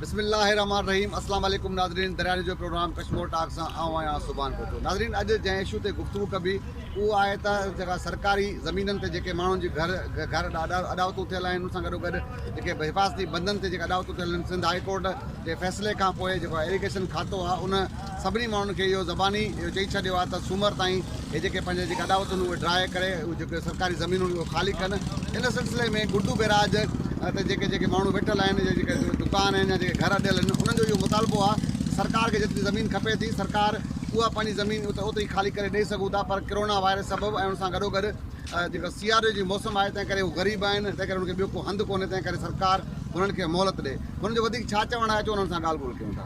بسم الله الرحمٰن الرحيم اسلام عليڪم ناظرين دريا نيوز جو پروگرام ڪشمور ٽاڪ سان آئون آهيان سبحان ڀٽو ناظرين اڄ جنهن اشو تي گفتگو ڪبي اهو آهي ته جيڪا سرڪاري زمينن تي جيڪي ماڻهن جي گهر گهر اڏاوتون ٿيل آهن ان سان گڏو گڏ جيڪي حفاظتي بندن تي جيڪا اڏاوتون ٿيل آهن سنڌ هاء ڪورٽ جي فيصلي کان پوء جيڪو ايريگيشن کاتو آهي ان سڀني ماڻهن کي اهو زباني اهو چئي ڇڏيو آهي ته سومر تائين هي جيڪي پنهنجي جيڪي اڏاوتون اهي ڊراء ڪري اهي جيڪي سرڪاري زمينون اهي خالي ڪن ان سلسلي ۾ گڊو بئراج تي جيڪي جيڪي ماڻهو ويٺل آهن يا جيڪي دڪان آهن يا جيڪي گهر اڏيل آهن انهن جو اهو مطالبو آهي ته سرڪار کي جيتري زمين کپي ٿي سرڪار اها پنهنجي زمين اتي اوتري خالي ڪري ڏئي سگهون ٿا پر ڪرونا وائرس سبب ۽ ان سان گڏو گڏ جيڪو سياري جي موسم آهي تنهن ڪري هو غريب آهن تنهن ڪري انهن کي ٻيو ڪو هنڌ ڪونهي تنهن ڪري سرڪار هنن کي مهلت ڏئي هنن جو وڌيڪ ڇا چوڻ آهي اچو انهن سان ڳالهه ٻولهه ڪيون ٿا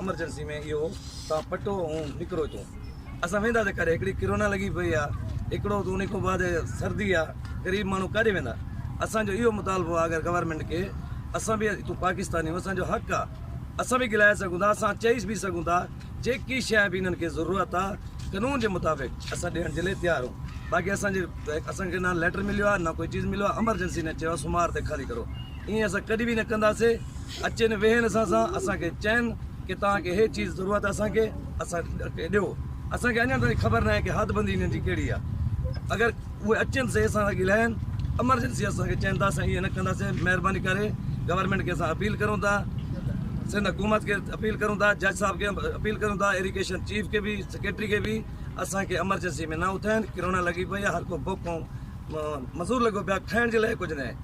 امرجنسي ۾ اهو هو تان پٽو هون نڪرو هتون اسان ويندا ته ڪاڏي هڪڙي ڪرونا لڳي پئي آ هڪڙو ته ان کان بعد سردي آ غريب ماڻهو ڪاڏي ويندا اسان جو اهو مطالبو آ اگر گورنمنٽ کي اسان به هتون پاڪستاني آهيون اسان جو حق آ اسان به ڳلهائي سگهون ٿا اسان چئي به سگهون ٿا جيڪي شيء به انهن کي ضرورت آ قانون جي مطابق اسان ڏيڻ جي لاء تيار آهيون باقي اسان جي اسان کي نه ليٽر مليو آ نه ڪوئي چيز مليو آ امرجنسي نه چيو آ سومار تي خالي ڪرو ائين اسان ڪڏهن به نه ڪنداسين اچين ويهين اسان سان اسان کي چين ڪي توهان کي هي چيز ضرورت آهي اسان کي اسان کي ڏيو اسان کي اڃان تائين خبر ناهي ڪي حد بندي هنن جي ڪهڙي آهي اگر اهي اچين سهي اسان سان ڳلهائين امرجنسي اسان کي چين ته اسان ائين نه ڪندا سي مهرباني ڪري گورنمينٽ کي اسان اپيل ڪرون ٿا سنڌ حڪومت کي اپيل ڪرون ٿا جج صاحب کي اپيل ڪرون ٿا ايريگيشن چيف کي به سيڪريٽري کي به اسان کي امرجنسي ۾ نه اٿائين ڪرونا لڳي پئي آهي هر ڪو بوکون مزور لڳو پيو آهي کائڻ جي لاء ڪجهه نه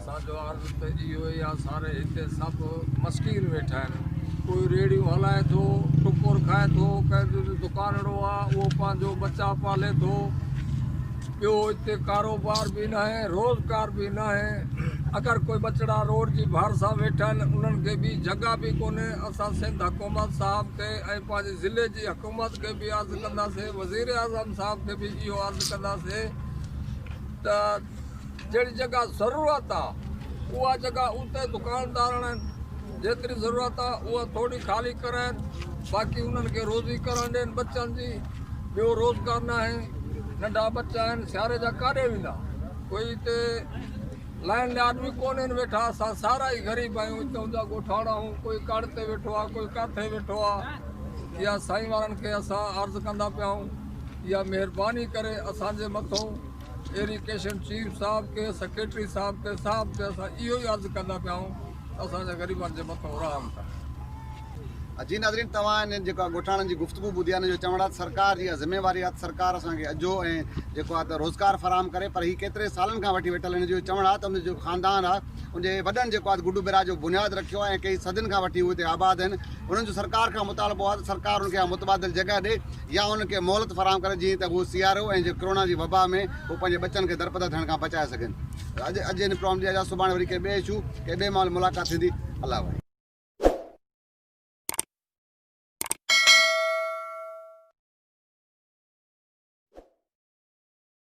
اسان جو عرض ته اهو ئي آهي ساري هتي سڀ مسڪين ويٺا آهن ڪوئي ريڙهيون هلائي ٿو ٽڪر کائي ٿو ڪنهن جو دڪانڙو آهي اهو پنهنجو بچا پالي ٿو ٻيو هتي ڪاروبار به نه آهي روزگار به نه آهي اگر ڪوئي ٻچڙا روڊ جي ڀار سان ويٺا آهن انهن کي به جڳا به ڪونهي اسان سنڌ حڪومت صاحب کي ۽ پنهنجي ضلعي جي حڪومت کي به عرض ڪنداسين وزير اعظم صاحب کي به اهو عرض ڪنداسين ته جهڙي جيڪا ضرورت آ اها جيڪا اتي دڪاندار آڻن جيتري ضرورت آ اها ٿوري خالي ڪرائين باقي انهن کي روزي ڪرڻ ڏين بچن جي ٻيو روزگار ناهي ننڍا بچا آهن سياري جا ڪاڏي ويندا ڪوئي اتي لائن ليا آدمي ڪونهن ويٺا اسان سارا ئي غريب آهيون اتي هوندا ڳوٺاڻا آهون ڪوئي ڪاڙ تي ويٺو آ ڪوئي ڪاٿي ويٺو آ يا سائين وارن کي اسان عرض ڪندا پيا آهون يا مهرباني ڪري اسان جي مٿو ايريڪيشن چيف صاحب کي سيڪريٽري صاحب کي صاحب کي اسان اهو ئي عرض ڪندا پيا آهيون ته اسان جا غريبن جي مٿو رحم ڪن. جي ناظرين توهان انهن جيڪو آ ڳوٺاڻن جي گفتگو ٻڌي آ انهن جو چوڻ آ ته سرڪار جي اها ذميواري آ ته سرڪار اسان کي اجهو ۽ جيڪو آ ته روزگار فراهم ڪري پر هي ڪيتري سالن کان وٺي ويٺل انهن جو چوڻ آ ته انهن جو خاندان آ ان جي وڏن جيڪو آ ته گڊو بيراج جو بنياد رکيو آ ۽ ڪئي صدين کان وٺي هو هتي آباد آهن انهن جو سرڪار کان مطالبو آ ته سرڪار انهن کي اها متبادل جڳهه ڏي يا انهن کي مهلت فراهم ڪري جيئن ته هو سيارو ۽ جي ڪرونا جي وبا ۾ هو پنهنجي ٻچن کي درپدر ٿيڻ کان بچائي سگهن. اڄ اڄ هن پروم جي جا سڀاڻي وري ڪنهن ٻئي اشو ڪنهن ٻئي ماحول ملاقات ٿيندي الله وحي.